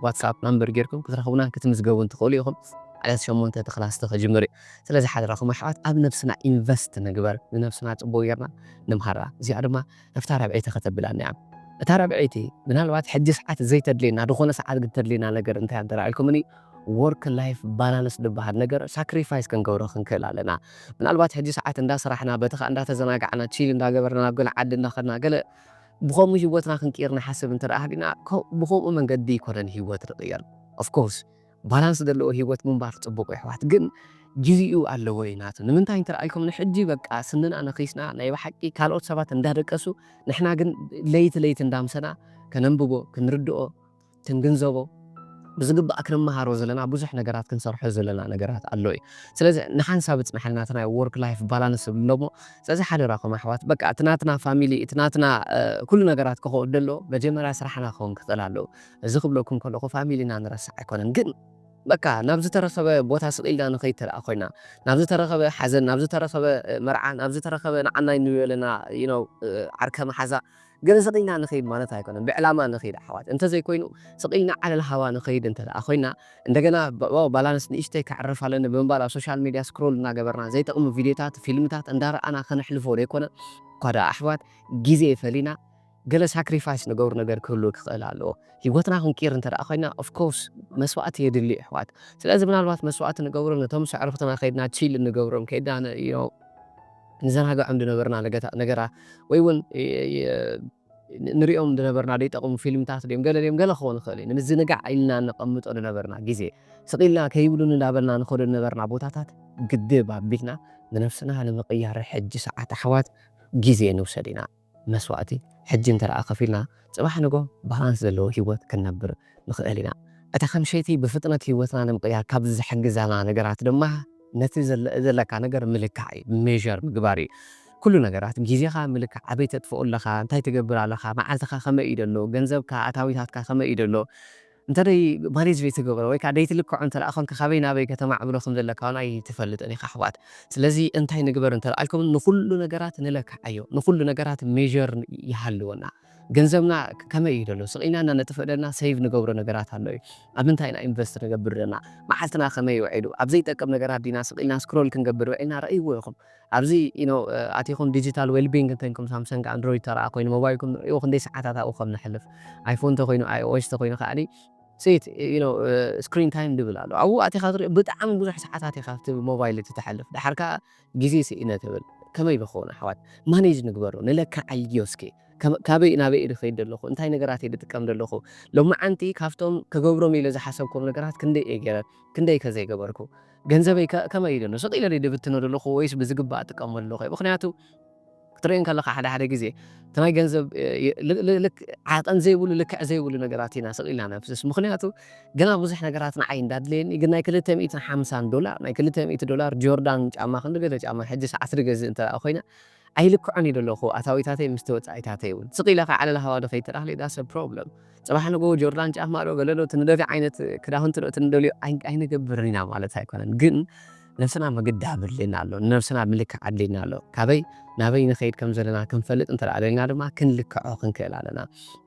ዋትስኣፕ ናምበር ጌርኩም ክትረኽቡናን ክትምዝገቡን ትኽእሉ ኢኹም። ዕለት ሸሞንተ እቲ ክላስ እቲ ክጅምር እዩ። ስለዚ ሓደራኹም ኣሕዋት ኣብ ነብስና ኢንቨስት ንግበር፣ ንነብስና ጽቡቕ ጌርና ንምሃራ። እዚኣ ድማ ኣብታ ራብዐይቲ ከተብላ እንያ። እታ ራብዐይቲ ምናልባት ሕጂ ሰዓት ዘይተድልየና ዝኾነ ሰዓት ግን ተድልየና ነገር እንታይ እያ እንተ ኢልኩምኒ ዎርክ ላይፍ ባላንስ ዝብሃል ነገር ሳክሪፋይስ ክንገብሮ ክንክእል ኣለና። ምናልባት ሕጂ ሰዓት እንዳ ስራሕና በቲ ከኣ እንዳ ተዘናጋዕና ቺል እንዳ ገበርና ናብ ገለ ዓዲ እንዳ ከድና ገለ ብኸምኡ ሂወትና ክንቅይር ንሓስብ እንተ ሃሊና ብኸምኡ መንገዲ ኣይኮነን ሂወት ንቅየር of course ባላንስ ዘለዎ ሂወት ምንባር ጽቡቅዩ ኣሕዋት ግን ግዚኡ ኣለዎዩ ናቱ ንምንታይ እንተ ኢልኩም ንሕጂ በቃ ስንና ነኺስና ናይ ብሓቂ ካልኦት ሰባት እንዳደቀሱ ንሕና ግን ለይቲ ለይቲ እንዳምሰና ከነንብቦ ክንርድኦ ክንግንዘቦ ብዝግባእ ክንመሃሮ ዘለና ብዙሕ ነገራት ክንሰርሖ ዘለና ነገራት ኣሎ እዩ ስለዚ ንሓንሳብ እጽናሕልና እቲ ናይ ዎርክ ላይፍ ባላንስ እብሎሞ ስለዚ ሓደራኩም ኣሕዋት በቃ እቲ ናትና ፋሚሊ እቲ ናትና ኩሉ ነገራት ክከውን ደሎ መጀመርያ ስራሕና ክከውን ክክእል ኣለዎ እዚ ክብለኩም ከለኩ ፋሚሊና ንረስዕ ኣይኮነን ግን በቃ ናብ ዝተረከበ ቦታ ስቅ ኢልና ንከይድ ተደኣ ኮይና ናብ ዝተረከበ ሓዘን ናብ ዝተረከበ መርዓ ናብ ዝተረከበ ንዓናይ ንበለና you know ዓርከ መሓዛ ግን ስቕ ኢልና ንኸይድ ማለት ኣይኮነን፣ ብዕላማ ንኸይድ ኣሕዋት። እንተዘይኮይኑ ስቕ ኢልና ዓለል ሃዋ ንኸይድ እንተድኣ ኮይና፣ እንደገና ዋው ባላንስ ንእሽተይ ከዕርፍ ኣለኒ ብምባል ኣብ ሶሻል ሜድያ ስክሮል እናገበርና ዘይጠቕሙ ቪድዮታት፣ ፊልምታት እንዳረኣና ከነሕልፎ ደይኮነ? እኳ ድኣ ኣሕዋት ግዜ ፈሊና ገለ ሳክሪፋይስ ንገብሮ ነገር ክህሉ ክኽእል ኣለዎ። ህይወትና ክንቅይር እንተድኣ ኮይና ኦፍ ኮርስ መስዋእቲ የድሊ እዩ ኣሕዋት። ስለዚ ምናልባት መስዋእቲ ንገብሮ ነቶም ኣዕሩኽትና ከይድና ቺል እንገብሮም ከይድና you know ንዘናግዖም ድነበርና ነገታ ነገራት ወይ ውን ንርእዮም ድነበርና ደይጠቕሙ ፊልምታት ድዮም ገለ ድዮም ገለ ክኸውን ይኽእል እዩ ንምዝንጋዕ ኢልና ነቐምጦ ድነበርና ግዜ ስቕ ኢልና ከይብሉኒ እንዳበልና ንኸዶ ድነበርና ቦታታት ግድብ ኣቢልና ንነብስና ንምቕያር ሕጂ ሰዓት ኣሕዋት ግዜ ንውሰድ ኢና። መስዋእቲ ሕጂ እንተደኣ ከፊልና ጽባሕ ንግሆ ባላንስ ዘለዎ ህይወት ክንነብር ንኽእል ኢና። እታ ከም ሸይቲ ብፍጥነት ህይወትና ንምቕያር ካብ ዝሕግዛና ነገራት ድማ ነቲ ዘለካ ነገር ምልካዕ እዩ፣ measure፣ ምግባር እዩ። ኩሉ ነገራት ግዜኻ ምልካዕ፣ ኣበይ ተጥፍኦ ኣለኻ፣ እንታይ ትገብር ኣለኻ፣ መዓልትኻ ከመይ እዩ ደሎ፣ ገንዘብካ፣ ኣታዊታትካ ከመይ እዩ ደሎ፣ እንተ ደይ ማኔጅ ዘይተገበረ ወይ ከኣ ደይትልክዖ እንተ ደኣ ኮንካ ካበይ ናበይ ከተማዕብሎ ከም ዘለካ ውን ኣይትፈልጥን ኢኻ ኣሕዋት ስለዚ እንታይ ንግበር እንተ ደኣ ኢልኩም ንኹሉ ነገራት ንለክዓዮ ንኹሉ ነገራት ሜዠር ይሃልወና ገንዘብና ከመይ እዩ ደሎ ስቒልና እና ነጥፍእ ደልና ሰይቭ ንገብሮ ነገራት ኣሎ እዩ ኣብ ምንታይ ኢና ኢንቨስት ንገብር ደልና መዓልትና ከመይ እዩ ውዒሉ ኣብ ዘይጠቅም ነገራት ዲና ስቒልና ስክሮል ክንገብር ውዒልና ረእይዎ ኢኹም ኣብዚ ኢኖ ኣቲኹም ዲጂታል ዌልቢንግ እንተንኩም ሳምሰንግ ኣንድሮይድ ተረኣ ኮይኑ ሞባይልኩም ንዕኡ ክንደይ ሰዓታት ኣብኡ ከም ነሕልፍ ኣይፎን ተኮይኑ ኣይኦኤስ ተኮይኑ ከኣኒ ሴት ኢኖ ስክሪን ታይም ድብል ኣሎ ኣብኡ ኣቲኻ ትሪኦ ብጣዕሚ ብዙሕ ሰዓታት ኢኻ ኣብቲ ሞባይል እቲ ተሕልፍ ደሓር ከኣ ግዜ ስኢነ ትብል ከመይ ብከውን ኣሕዋት ማኔጅ ንግበሮ ንለክዓዮ እስኪ ካበይ ናበይ እየ ድከይድ ደለኩ እንታይ ነገራት እየ ድጥቀም ደለኩ ሎምዓንቲ ካብቶም ክገብሮም ኢለ ዝሓሰብኮም ነገራት ክንደይ እየ ገይረ ክንደይ ከ ዘይገበርኩ ገንዘበይ ከ ከመይ እዩ ደሎ ስቅ ኢለ ድየ ድብትኖ ደለኩ ወይስ ብዝግባእ እጥቀመሉ ኣለኩ ምክንያቱ ክትርእዮ ከለካ ሓደ ሓደ ግዜ እቲ ናይ ገንዘብ ዓቀን ዘይብሉ ልክዕ ዘይብሉ ነገራት ኢና ስቅ ኢልና ነፍስስ ምክንያቱ ገና ብዙሕ ነገራት ንዓይ እንዳ ኣድለየኒ ግን ናይ ክልተ ሚእትን ሓምሳን ዶላር ናይ ክልተ ሚእቲ ዶላር ጆርዳን ጫማ ክንዲ ገለ ጫማ ሕጂ ሰዓት ድገዝእ እንተ ኮይነ ኣይልክዖን እየ ደለኩ ኣታዊታተይ ምስቲ ወጻኢታተይ ውን ስቅ ኢለ ከይ ዓለል ሃዋዶ ከይ ተዳክሊ ዳሰ ፕሮብለም ጽባሕ ንግሆ ጆርዳን ጫማ ዶ ገለ ዶ እቲ ንደልዮ ዓይነት ክዳውንቲ ዶ እቲ ንደልዮ ኣይንገብርን ኢና ማለት ኣይኮነን ግን ነብስና ምግዳብ ኣድልየና ኣሎ ንነብስና ምልካዕ ኣድልየና ኣሎ ካበይ ናበይ ንከይድ ከም ዘለና ክንፈልጥ እንተ ደሊና ድማ ክንልክዖ ክንክእል ኣለና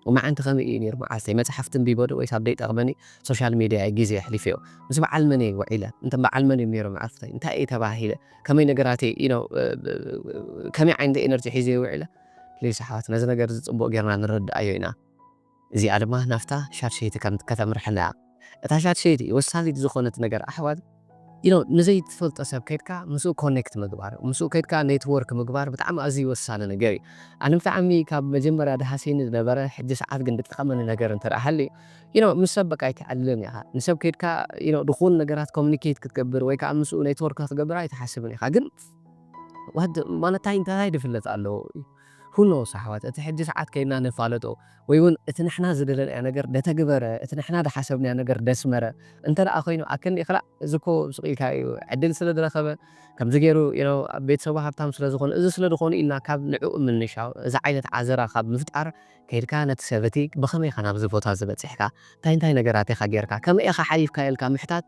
ሎማዓንቲ ከመይ እዩ ኔሩ መዓልተይ መጽሓፍቲ ኣንቢበ ዶ ወይስ ኣብ ደይጠቅመኒ ሶሻል ሜድያ እየ ግዜ የሕሊፈዮ ምስ በዓል መን እየ ውዒለ እንተ በዓል መን እዮም ኔሮም ዕርፍተይ እንታይ እየ ተባሂለ ከመይ ነገራተይ you know ከመይ ዓይነት ኤነርጂ ሒዘዮ ውዒለ please ኣሕዋት ነዚ ነገር እዚ ጽቡቅ ጌርና ንረድኣዮ ኢና እዚኣ ድማ ናብታ ሻድሸይቲ ከም ከተምርሐና እያ እታ ሻድሸይቲ ወሳኒት ዝኮነት ነገር ኣሕዋት you know ንዘይ ትፈልጦ ሰብ ከድካ ምስኡ ኮኔክት ምግባር ምስኡ ከድካ ኔትዎርክ ምግባር ብጣዕሚ ኣዝዩ ወሳኒ ነገር እዩ ኣነ ብጣዕሚ ካብ መጀመርያ ድሃስየኒ ዝነበረ ሕጂ ሰዓት ግን ድጠቀመኒ ነገር እንተ ሃልዩ you know ምስ ሰብ በቃ ኣይትዓልልን ኢኻ ንሰብ ከይድካ you know ድኹን ነገራት communicate ክትገብር ወይ ከኣ ምስኡ network ክትገብር ኣይትሓስብን ኢኻ ግን what the ማለት ታይ እንታይ ድፍለጥ ኣሎ who knows ኣሕዋት እቲ ሕጂ ሰዓት ከይድና ንፋለጦ ወይ ውን እቲ ንሕና ዝደለናዮ ነገር ደተግበረ እቲ ንሕና ድሓሰብናዮ ነገር ደስመረ እንተ ደኣ ኮይኑ ኣክንዲ ክላእ እዚ እኮ ስቅ ኢልካ እዩ ዕድል ስለ ድረኸበ ከምዚ ገይሩ you know ቤተሰቡ ሃብታም ስለ ዝኾኑ እዚ ስለ ድኾኑ ኢልና ካብ ንዕኡ ምንሻው እዚ ዓይነት ዓዘራ ካብ ምፍጣር ከይድካ ነቲ ሰብ እቲ ብኸመይ ኢኻ ናብዚ ቦታ እዚ በጺሕካ፣ እንታይ እንታይ ነገራት ኢኻ ጌርካ፣ ከመይ ኢኻ ሓሊፍካዮ ኢልካ ምሕታት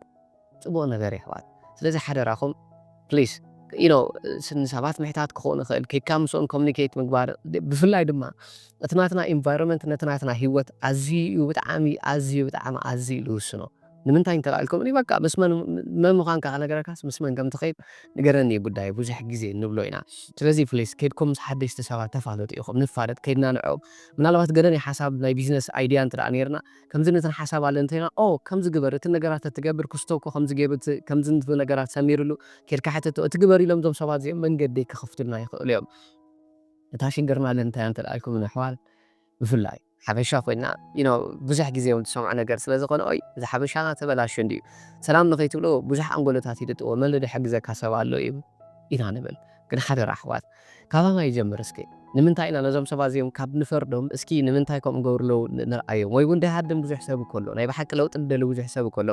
ጽቡቕ ነገር እዩ ኣሕዋት። ስለዚ ሓደራኹም please you know ንሰባት ምሕታት ክኸውን ይኽእል፣ ከይድካ ምስኦም communicate ምግባር ብፍላይ ድማ እቲ ናትና environment ነቲ ናትና ሂወት ኣዝዩ እዩ ብጣዕሚ ኣዝዩ ብጣዕሚ ኣዝዩ እዩ ዝውስኖ። ንምንታይ እንተላኢልኩምኒ በቃ ምስ መን መን ምዃንካ ክነግረካስ ምስ መን ከምትኸይድ ንገረኒ እዩ ጉዳየይ ብዙሕ ግዜ ንብሎ ኢና ስለዚ ፕሊስ ከድኩም ምስ ሓደሽቲ ሰባት ተፋለጡ ኢኹም ንፋለጥ ከድና ንዕኦም ምናልባት ገለ ናይ ሓሳብ ናይ ቢዝነስ ኣይድያ እንተ ነይርና ከምዚ ነትን ሓሳብ ኣለን እንተይልና ኦ ከምዚ ግበር እቲ ነገራት ተትገብር ክስቶ እኮ ከምዚ ገይሩ እቲ ከምዚ ንት ነገራት ሰሚርሉ ከድካ ሕተቶ እቲ ግበር ኢሎም እዞም ሰባት እዚኦም መንገዲ ክኽፍቱልና ይኽእሉ እዮም እታ ሽግርና ግን እንታይ እያ እንተ ኢልኩምኒ ኣሕዋት ብፍላይ። ሓበሻ ኮይና you know ብዙሕ ግዜ ውን ትሰምዖ ነገር ስለ ዝኮነ ኦይ እዚ ሓበሻና ተበላሽዩ እንድዩ ሰላም ንከይትብሎ ብዙሕ ኣንጎሎታት ይድጥዎ መን ድሕግዘካ ሰብ ኣሎ እዩ ኢና ንብል ግን ሓደራ ኣሕዋት ካባና ይጀምር እስኪ ንምንታይ ኢና ነዞም ሰባት እዚኦም ካብ ንፈርዶም እስኪ ንምንታይ ከምኡ ገብሩ ኣለው ንርኣዮም ወይ ውን ድሃድም ብዙሕ ሰብ እኮ ኣሎ ናይ ብሓቂ ለውጢ ድደሊ ብዙሕ ሰብ እኮ ኣሎ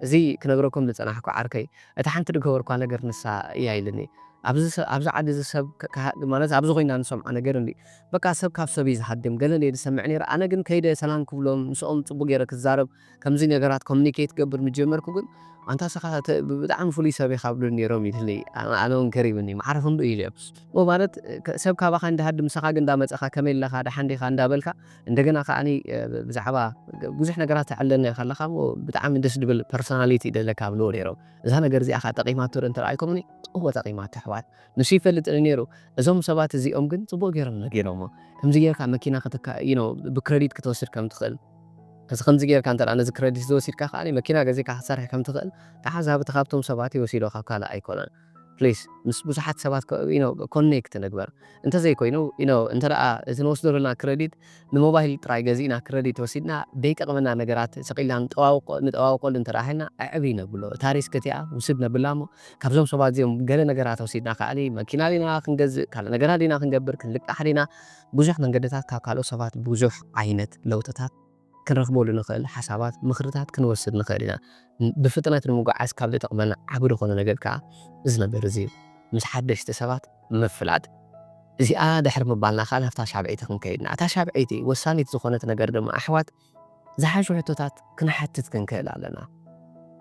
እዚ ክነግረኩም ድጸናሕኩ ዓርከይ እታ ሓንቲ ድገበርኳ ነገር ንሳ እያ ኢልኒ ኣብዚ ኣብዚ ዓዲ እዚ ሰብ ማለት ኣብዚ ኮይና ንሰምዖ ነገር እንድዩ በቃ ሰብ ካብ ሰብ እዩ ዝሃድም ገለ ነይሩ ዝሰምዕ ነይረ ኣነ ግን ከይደ ሰላም ክብሎም ምስኦም ጽቡቅ ገይረ ክዛረብ ከምዚ ነገራት ኮሚኒኬት ክገብር ምስ ጀመርኩ ግን ኣንታ እስኻ ብጣዕሚ ፍሉይ ሰብ ኢኻ ይብሉኒ ነይሮም ኢሉኒ ኣነ ውን ገሪሙኒ ማዕረ ክንድኡ ኢለ እሞ ማለት ሰብ ካባኻ እንዳሃድም ንሰኻ ግን እንዳመጸኻ ከመይ ኣለኻ ደሓን ዲኻ እንዳበልካ እንደገና ከኣ ብዛዕባ ብዙሕ ነገራት ተዕልለና ኢኻ ኣለኻ እሞ ብጣዕሚ ደስ ድብል ፐርሶናሊቲ ደለካ ይብልዎ ነይሮም እዛ ነገር እዚኣ ከኣ ጠቂማቶ ዶ እንተረኣይኩምኒ እወ ጠቂማቶ ኣሕዋት ንሱ ይፈልጥ ኔሩ እዞም ሰባት እዚኦም ግን ጽቡቅ ጌሮም ነጊሮሞ ከምዚ ጌርካ መኪና ክትካ you know ብክረዲት ክትወስድ ከም ትክእል እዚ ከምዚ ጌርካ እንተ ነዚ ክረዲት እዚ ወሲድካ ከኣ መኪና ገዚእካ ክትሰርሕ ከም ትክእል ተዓዛቢ ካብቶም ሰባት እዩ ወሲዶ ካብ ካልእ ኣይኮነን please ምስ ብዙሓት ሰባት you know connect ንግበር እንተ ዘይኮይኑ you know እንተ እዚ ንወስዶ ዘለና ክረዲት ንሞባይል ጥራይ ገዚእና ክረዲት ወሲድና ደይጠቅመና ነገራት ሰቂልና ንጠዋውቆ ንጠዋውቀሉ እንተ ሃልና ኣዕብይ ነብሎ እታ ሪስክ እቲኣ ውስድ ነብላ እሞ ካብዞም ሰባት እዚኦም ገለ ነገራት ወሲድና ከኣሊ መኪና ዲና ክንገዝእ ካልእ ነገራት ዲና ክንገብር ክንልቃሕ ዲና ብዙሕ መንገድታት ካብ ካልኦት ሰባት ብዙሕ ዓይነት ለውጥታት ክንረክበሉ ንክእል ሓሳባት ምክርታት ክንወስድ ንክእል ኢና ብፍጥነት ንምጉዓዝ ካብ ዝጠቅመና ዓቢ ድኮነ ነገር ከኣ እዚ ነገር እዚ እዩ ምስ ሓደሽቲ ሰባት ምፍላጥ እዚኣ ድሕሪ ምባልና ከኣ ናብታ ሻብዐይቲ ክንከይድ ኢና። እታ ሻብዐይቲ ወሳኒት ዝኾነት ነገር ድማ ኣሕዋት ዝሓሹ ሕቶታት ክንሓትት ክንክእል ኣለና።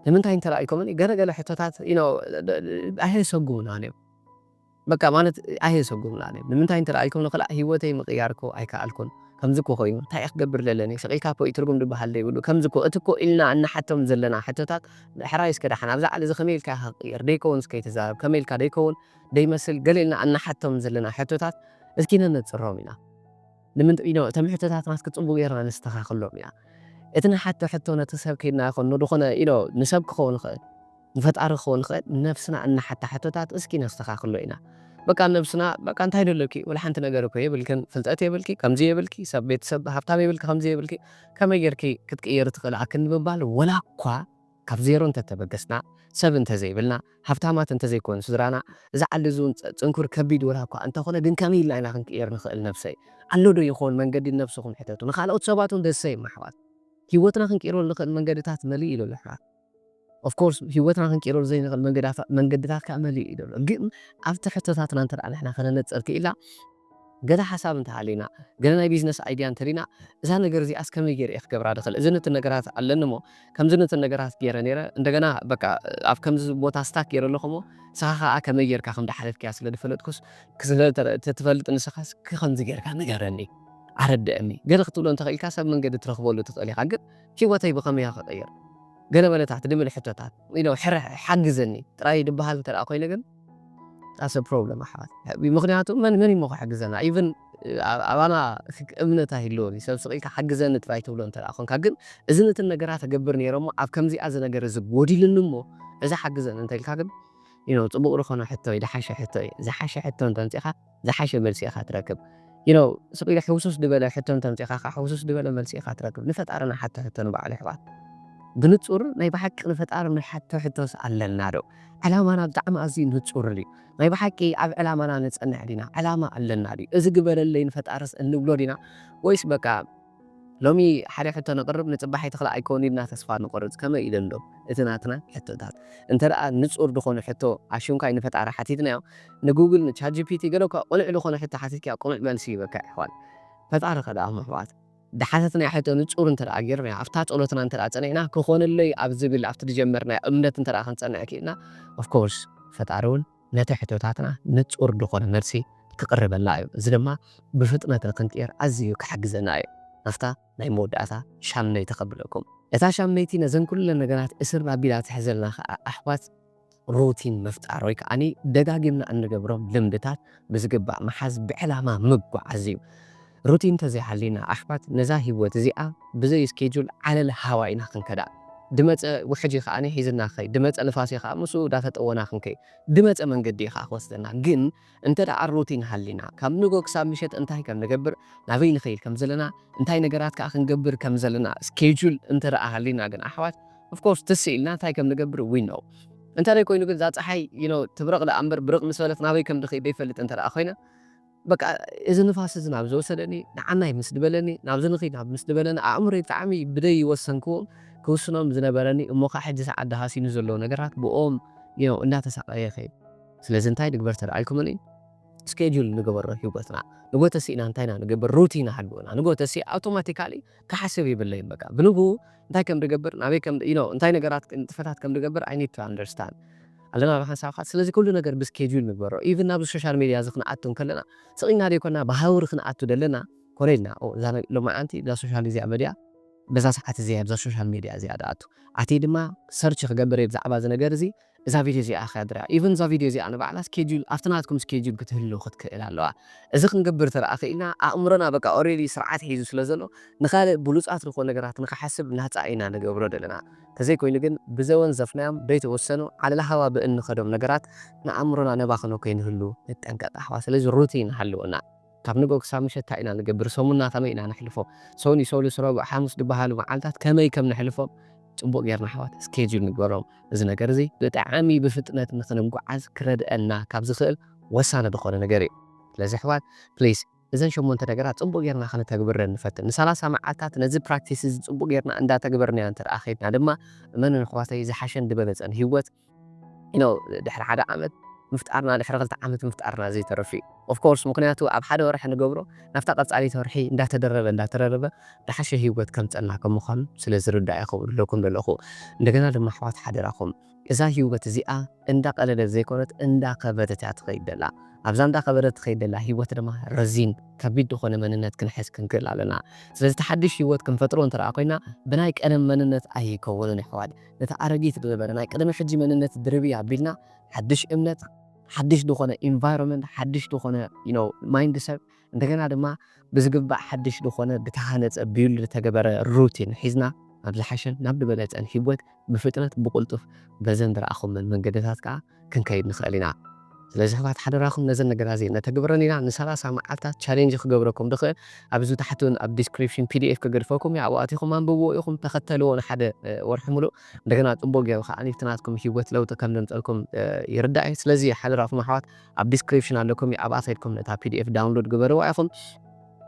ንምንታይ እንተ ኢልኩምኒ ገለ ገለ ሕቶታት you know ኣየሰጉሙናን እዮም በቃ ማለት ኣየሰጉሙናን እዮም ንምንታይ እንተ ኢልኩምኒ ክላእ ህይወተይ ምቕያር እኮ ኣይከኣልኩን ከምዚ እኮ ኮይኑ እንታይ እየ ክገብር ዘለኒ ስቕ ኢልካ እኮ እዩ ትርጉም ድበሃል ዘይብሉ ከምዚ እኮ እቲ እኮ ኢልና እንሓቶም ዘለና ሕቶታት ሕራይ እስከ ደሓን ኣብዛ ዓል እዚ ከመይ ኢልካ ኢኻ ክትቕየር ደይከውንስ ከይትዛረብ ከመይ ኢልካ ደይከውን ደይመስል ገለ ኢልና እንሓቶም ዘለና ሕቶታት እስኪ ነነጽሮም ኢና። ንምንጥ ኢኖ እቶም ሕቶታትና እስኪ ጽቡቕ ጌርና ነስተኻኽሎም ኢና። እቲ ንሓቶ ሕቶ ነቲ ሰብ ከይድና ይኹን ንድኾነ ኢኖ ንሰብ ክኸውን ይኽእል ንፈጣሪ ክኸውን ይኽእል ንነብስና እንሓታ ሕቶታት እስኪ ነስተኻኽሎ ኢና። በቃ ነብስና በቃ እንታይ ደለኪ ወላ ሓንቲ ነገር እኮ የብልክን ፍልጠት የብልኪ ከምዚ የብልኪ ሰብ ቤተሰብ ሃብታም የብልኪ ከምዚ የብልኪ ከመይ ጌርኪ ክትቅየሪ ትኽእሊ ኣክንዲ ምባል ወላኳ ካብ ዜሮ እንተተበገስና፣ ሰብ እንተዘይብልና፣ ሃብታማት እንተዘይኮኑ ስድራና፣ እዚ ዓሊ እዚ እውን ጽንኩር ከቢድ ወላኳ እንተኾነ ግን ከመይ ኢልና ኢና ክንቅይር ንኽእል ነብሰይ? ኣሎ ዶ ይኾን መንገዲ ንነብስኹም ሕተቱ ንኻልኦት ሰባት እውን ደሰይም ኣሕዋት ሂወትና ክንቅይረሉ ንኽእል መንገድታት መሊኡ እዩ ዘሎ ኣሕዋት of course ሂወትና ክንቅይረሉ ዘይንኽእል መንገድታት ከኣ መሊኡ እዩ ዘሎ ግን ኣብቲ ሕቶታትና እንተ ንሕና ከነነጽር ክኢልና ገለ ሓሳብ እንተ ሃልዩና፣ ገለ ናይ ቢዝነስ ኣይድያ እንተ ሪና፣ እዛ ነገር እዚኣስ ከመይ ገይረ እየ ክገብራ ዝኽእል፣ እዝን እትን ነገራት ኣለኒ እሞ፣ ከምዝን እትን ነገራት ገይረ ነይረ፣ እንደገና በቃ ኣብ ከምዚ ቦታ ስታክ ገይረ ኣለኹ እሞ፣ ንስኻ ከኣ ከመይ ገይርካ ከም ዝሓለፍክያ ስለ ዝፈለጥኩስ፣ ስለ እትፈልጥ ንስኻ እስኪ ከምዚ ገይርካ ንገረኒ፣ ኣረድእኒ፣ ገለ ክትብሎ እንተ ኽኢልካ ሰብ መንገዲ ትረኽበሉ ትኽእል ኢኻ፣ ግን ህይወተይ ብኸመይ እየ ክቕይር፣ ገለ በለታት ድብል ሕቶታት፣ you know፣ ሕረሕ፣ ሓግዘኒ፣ ጥራይ ድበሃል እንተ ኾይነ ግን። That's a problem ኣሕዋት ምኽንያቱ መን መን እዩሞ ክሕግዘና even ኣባና እምነት ኣይህልዎን እዩ ሰብ ስቕ ኢልካ ሓግዘኒ ጥራይ ትብሎ እንተ ኾንካ ግን እዝን እትን ነገራት እገብር ነይረ እሞ ኣብ ከምዚኣ እዚ ነገር እዚ ጎዲሉኒ እሞ እዚ ሓግዘኒ እንተ ኢልካ ግን you know ጽቡቕ ዝኾነ ሕቶ እዩ ድሓሸ ሕቶ እዩ ዝሓሸ ሕቶ እንተ ኣምጺእኻ ዝሓሸ መልሲ ኢኻ ትረክብ you know ስቅ ኢለ ሕውስውስ ድበለ ሕቶ እንተምጺኻ ከኣ ሕውስውስ ድበለ መልሲ ኢኻ ትረክብ ንፈጣሪ ንሓቶ ሕቶ ንባዕሉ የሕዋት ብንጹር ናይ ብሓቂ ንፈጣሪ ንሓቶ ሕቶስ ኣለና ዶ ዕላማና ብጣዕሚ ኣዝዩ ንጹር ድዩ ናይ ብሓቂ ኣብ ዕላማና ንጸንዕ ዲና ዕላማ ኣለና ድዩ እዚ ግበረለይ ንፈጣርስ እንብሎ ዲና ወይስ በቃ ሎሚ ሓደ ሕቶ ነቕርብ ንጽባሒት ኽኣ ኣይከውን ኢልና ተስፋ ንቖርጽ ከመይ ኢለን ዶ እቲ ናትና ሕቶታት እንተ ንጹር ድኾነ ሕቶ ኣሽንኳይ ንፈጣሪ ሓቲትናዮ ንጉግል ን ቻት ጂፒቲ ገለ እኳ ቁኑዕ ድኾነ ሕቶ ሓቲትካዮ ቁኑዕ መልሲ ይህበካ የሕዋት ፈጣሪ ኸኣ ዳኣኹም ኣሕዋት ድሓተትናዮ ሕቶ ንጹር እንተ ጌርናዮ ኣብታ ጸሎትና እንተ ጸኒዕና ክኾነለይ ኣብ ዝብል ኣብቲ ድጀመርናዮ እምነት እንተ ክንጸንዕ ኪኢልና of course ፈጣሪ ውን ነቲ ሕቶታትና ንጹር ድኾነ መልሲ ክቕርበልና እዩ፣ እዚ ድማ ብፍጥነት ንክንቅየር ኣዚዩ ክሕግዘና እዩ። ናፍታ ናይ መወዳእታ ሻምነይቲ ከብለኩም። እታ ሻምነይቲ ነዘን ኩለን ነገራት እስር ኣቢላ ትሕዘልና ከኣ ኣሕዋት ሩቲን ምፍጣር ወይ ከኣ ደጋጊምና እንገብሮም ልምድታት ብዝግባእ ምሓዝ ብዕላማ ምጉዓዝ እዩ። ሩቲን ተዘይሃልዩና ኣሕዋት ነዛ ሂወት እዚኣ ብዘይ እስኬጁል ዓለል ሃዋ ኢና ክንከዳ ድመጸ ውሕጅ ከኣ ሒዝና ክኸይድ ድመጸ ንፋስ ከኣ ምስኡ ዳተጠወና ክንከይድ ድመጸ መንገዲ ከኣ ክወስደና ግን እንተ ሩቲን ሃልዩና ካብ ንግሆ ክሳብ ምሸት እንታይ ከም ንገብር ናበይ ንኸይድ ከም ዘለና እንታይ ነገራት ከኣ ክንገብር ከም ዘለና እስኬጁል እንተ ሃልዩና ግን ኣሕዋት ኦፍኮርስ ትስ ኢልና እንታይ ከም ንገብር ዊ ኖው እንተ ኮይኑ ግን እዛ ጸሓይ ዩ ኖው ትብረቕ ደኣ እምበር ብርቕ ምስ በለት ናበይ ከም ድኸይድ ደይፈልጥ እንተ ኮይነ በቃ እዚ ንፋስ እዚ ናብ ዝወሰደኒ ንዓናይ ምስ ድበለኒ ናብዚ ንኺድ ናብ ምስ ድበለኒ ኣእምሮይ ብጣዕሚ ብደይ ይወሰንክዎም ክውስኖም ዝነበረኒ እሞ ከኣ ሕጂ ሰዓት ደሃሲኑ ዘሎ ነገራት ብኦም እዮ እንዳተሳቀየ ከይድ ስለዚ እንታይ ንግበር ተላኢልኩምኒ እስኬጁል ንገበሮ ሂወትና ንጎተሲ ኢና እንታይ ኢና ንገብር ሩቲን ኣሃልውና ንጎተሲ ኣውቶማቲካሊ ክሓስብ ይብለይን በቃ ብንግኡ እንታይ ከም ድገብር ናበይ ከም you know እንታይ ነገራት ንጥፈታት ከም ድገብር I need to understand ኣለና ብሓንሳብ ከኣ ስለዚ ኩሉ ነገር ብ schedule ንግበሮ even ናብዚ social media እዚ ክንኣቱ እንከለና ስቕ ኢልና ደይኮና ብሃውሪ ክንኣቱ ደለና ኮነ ኢልና ኦ እዛ ሎማዓንቲ እዛ social እዚኣ በዲኣ በዛ ሰዓት እዚኣ እየ ኣብዛ social media እዚኣ ድኣቱ ኣትየ ድማ search ክገብር እየ ብዛዕባ እዚ ነገር እዚ እዛ ቪድዮ እዚኣ ከድርያ ኢቭን እዛ ቪድዮ እዚኣ ንባዕላ ስኬጁል ኣብቲ ናትኩም ስኬጁል ክትህሉ ክትክእል ኣለዋ እዚ ክንገብር ተደኣ ክኢልና ኣእምሮና በቃ ኦሬዲ ስርዓት ሒዙ ስለ ዘሎ ንካልእ ብሉጻት ንኮን ነገራት ንክሓስብ ናጻ ኢና ንገብሮ ደለና ተዘይኮይኑ ግን ብዘወንዘፍናዮም ደይተወሰኑ ዓለልሃዋ ብእንኸዶም ነገራት ንኣእምሮና ነባኽኖ ከይንህሉ ንጠንቀቅ ኣሕዋት ስለዚ ሩቲን ሃልወና። ካብ ንግሆ ክሳብ ምሸት ታይ ኢና ንገብር ሰሙንና ከመይ ኢና ነሕልፎ ሰኑይ ሰሉስ ረቡዕ ሓሙስ ድባሃሉ መዓልታት ከመይ ከም ነሕልፎም ፅቡቅ ጌርና ኣሕዋት ስኬጁል ንግበሮም እዚ ነገር እዚ ብጣዕሚ ብፍጥነት ንክንጓዓዝ ክረድእና ካብ ዝክእል ወሳኒ ድኮነ ነገር እዩ ስለዚ ኣሕዋት please እዘን ሸሞንተ ነገራት ፅቡቅ ጌርና ከነተግብረን ንፈትን ንሳላሳ መዓልታት ነዚ ፕራክቲስ እዚ ፅቡቅ ጌርና እንዳተግበርናዮ እንተድኣ ከይድና ድማ እመኑኒ ኣሕዋተይ ዝሓሸን ድበለፀን ሂወት ኢኖ ድሕሪ ሓደ ዓመት ምፍጣርና ድሕሪ ክልተ ዓመት ምፍጣርና ዘይተርፍ እዩ of course ምክንያቱ ኣብ ሓደ ወርሒ ንገብሮ ናብታ ቀጻሊት ወርሒ እንዳተደረበ እንዳተደረበ ድሓሸ ሂወት ከምጸና ከም ምኳኑ ስለ ዝርዳእ ኢኩም ዝብለኩም ዘለኩ እንደገና ድማ ኣሕዋት ሓደራኩም እዛ ሂወት እዚኣ እንዳ ቀለለት ዘይኮነት እንዳ ከበደት እያ ትከይድ ዘላ ኣብዛ እንዳ ከበደት ትከይድ ዘላ ሂወት ድማ ረዚን ከቢድ ድኮነ መንነት ክንሕዝ ክንክእል ኣለና ስለዚ እቲ ሓድሽ ሂወት ክንፈጥሮ እንተ ኮይና ብናይ ቀደም መንነት ኣይከውንን ኣሕዋት ነታ ኣረጊት ዝነበረ ናይ ቅድሚ ሕጂ መንነት ድርብይ ኣቢልና ሓድሽ እምነት ሓድሽ ዝኾነ ኢንቫይሮመንት ሓድሽ ዝኾነ you know ማይንድ ሰት እንደገና ድማ ብዝግባእ ሓድሽ ዝኾነ ብተሃነጸ ቢውልድ ዝተገበረ ሩቲን ሒዝና ናብ ዝሓሸን ናብ ድበለጸን ሂወት ብፍጥነት ብቁልጡፍ በዘን ዝረኣኹመን መንገድታት ከኣ ክንከይድ ንክእል ኢና ስለዚ ኣሕዋት ሓደራኹም ነዘን ነገራት እዚኤን ነተግብረን ኢና ንሰላሳ መዓልታት ቻሌንጅ ክገብረኩም ድክእል ኣብዚ ታሕቲ ኣብ ዲስክሪፕሽን pdf ከገድፈኩም እየ ኣብኡ ኣቲኩም ኣንብብዎ ኢኩም ተከተልዎ ንሓደ ወርሒ ሙሉእ እንደገና ጽቡቅ ጌሩ ከኣ ኣብቲ ናትኩም ሂወት ለውጢ ከም ዘምጸልኩም ይርዳእ እየ ስለዚ ሓደራኹም ኣሕዋት ኣብ ዲስክሪፕሽን ኣለኩም እዩ ኣብኣ ከድኩም ነታ pdf ዳውንሎድ ግበርዋ ኢኩም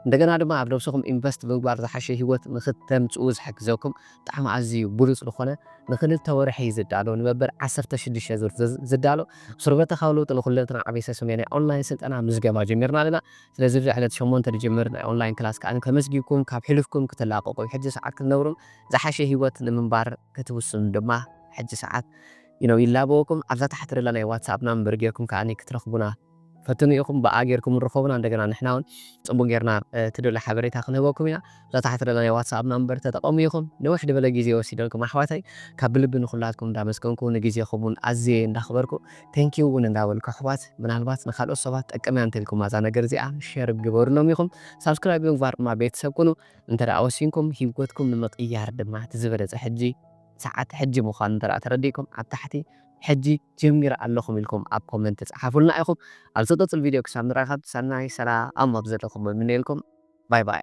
እንደገና ድማ ኣብ ነብስኹም ኢንቨስት ብምግባር ዝሓሸ ሂወት ንኽተምጽኡ ዝሕግዘኩም ብጣዕሚ ኣዝዩ ብሉጽ ዝኾነ ንኽልተ ወርሒ ዝዳሎ ንመበል ዓሰርተ ሽዱሽተ ዙር ዝዳሎ ሱርበተኻዊ ለውጢ ንኹለንትና ዓቤሰ ሰሜን ናይ ኦንላይን ስልጠና ምዝገባ ጀሚርና ኣለና ስለዚ እዚ ዕለት ሸሞንተ ዝጅምር ናይ ኦንላይን ክላስ ከኣ ተመዝጊብኩም ካብ ሕሉፍኩም ክትላቀቁ ሕጂ ሰዓት ክትነብሩን ዝሓሸ ሂወት ንምንባር ክትውስኑን ድማ ሕጂ ሰዓት እዩ ይላበወኩም ኣብዛ ታሕቲ ደላ ናይ ዋትስኣፕ ናምበር ጌርኩም ከኣ ክትረኽቡና ፈትኑ ኢኩም ብኣ ጌርኩም ርኮቡና እንደገና ንሕና ውን ጽቡቅ ጌርና ትደልዮ ሓበሬታ ክንህበኩም ኢና እዛ ታሕቲ ደላ ናይ ዋትስኣብ ናምበር ተጠቀሙ ኢኩም ንውሕ ድበለ ግዜ ወሲደልኩም ኣሕዋተይ ካብ ብልቢ ንኩላትኩም እንዳመስገንኩ ንግዜኩም ውን ኣዝየ እንዳክበርኩ Thank you ውን እንዳበልኩ ኣሕዋት ምናልባት ንካልኦት ሰባት ትጠቅም እያ እንተልኩማ እዛ ነገር እዚኣ Share ግበሩሎም ኢኩም Subscribe ብምግባር ድማ ቤተሰብ ኩኑ እንተ ወሲንኩም ሂወትኩም ንምቅያር ድማ እቲ ዝበለጸ ሕጂ ሰዓት ሕጂ ምኳኑ እንተ ተረዲእኩም ኣብ ታሕቲ ሕጂ ጀሚረ ኣለኹም ኢልኩም ኣብ ኮመንት ጸሓፉልና ኢኹም። ኣብ ዝቅጽል ቪድዮ ክሳብ ንራኸብ ሰናይ ሰላም ኣብ ዘለኹሞ ይምነየልኩም። ባይ ባይ።